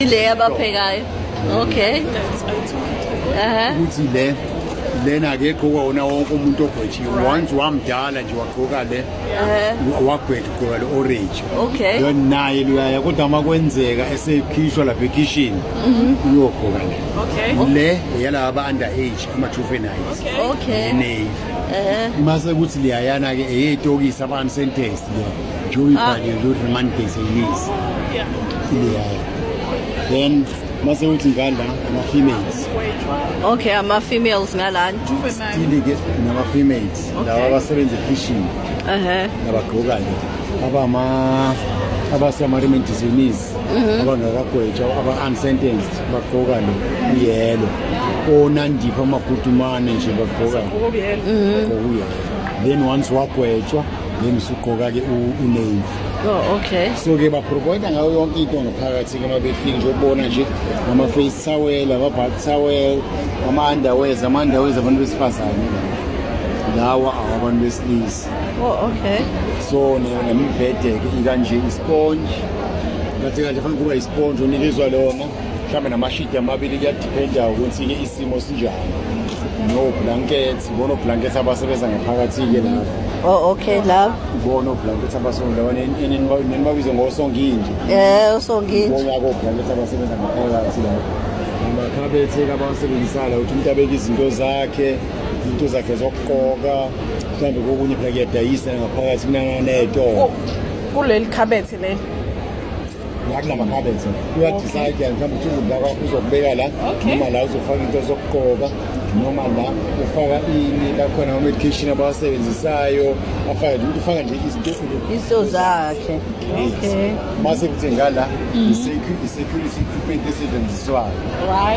Ile yabaphekayo. Okay. Aha. Ukuthi le lena ke gqoka wona wonke umuntu ogwetshiwe once wamdala nje wagqoka le wagwetha ugqoka le orange okay then naye luyaya kodwa uma kwenzeka esekhishwa lapha ekhishini mhm. uyogqoka le okay le yalaba aba under age ama juveniles okay ne mase kuthi liyayana ke eyetokisa abantu sentence le Joey ah. Bhadi nje ukuthi mani base imizi ileyayo then mase uthi ngala ama-females okay ama-females ngalani stile-ke nama-females lawa abasebenza ekhishini nabagqoka nje abama abasemarimeni disease mhm. abangakagwetshwa aba-unsentenced bagqoka lo uyelo onandipha amagudumane nje bagqoka mhm. then once wagwetshwa then usuqoka-ke unave oh, okay so-ke baprovoida ngayo yonke into ngaphakathi-ke uma befika nje ukubona nje ama-face towel ama-back towel ama-underwares ama-underwares abantu besifazane lawa awabantu besilisa oh, okay so nemibhede-ke ikanje isponge kathi kahle fanele kuba isponge unikezwa lona mhlawumbe namashidi amabili kuyadiphenda ukuthi-ke isimo sinjani no-blanket Sibona oblanket abasebenza ngaphakathi-ke lapho. Oh okay love. Sibona oblanket abasonda nenibabize ngosonginje. Eh usonginje. Sibona oblanket abasebenza ngaphakathi lapho. Amakhabethe abawasebenzisayo ukuthi umuntu abeke izinto zakhe, izinto zakhe zokugqoka, mhlawumbe kokunye phela kuyadayisa ngaphakathi kunanganetoo. Kuleli khabethe leli. nakunamakhabethe uyadicide yani mhlawumbe uthi ukudla kwakho uzokubeka la noma la uzofaka into zokugqoka noma la ufaka ini lakhona ama-medication abawasebenzisayo afake ukuthi ufaka nje izinto zakhe okay mase kuthi ngala mm-hmm. i-security equipment esetshenziswayo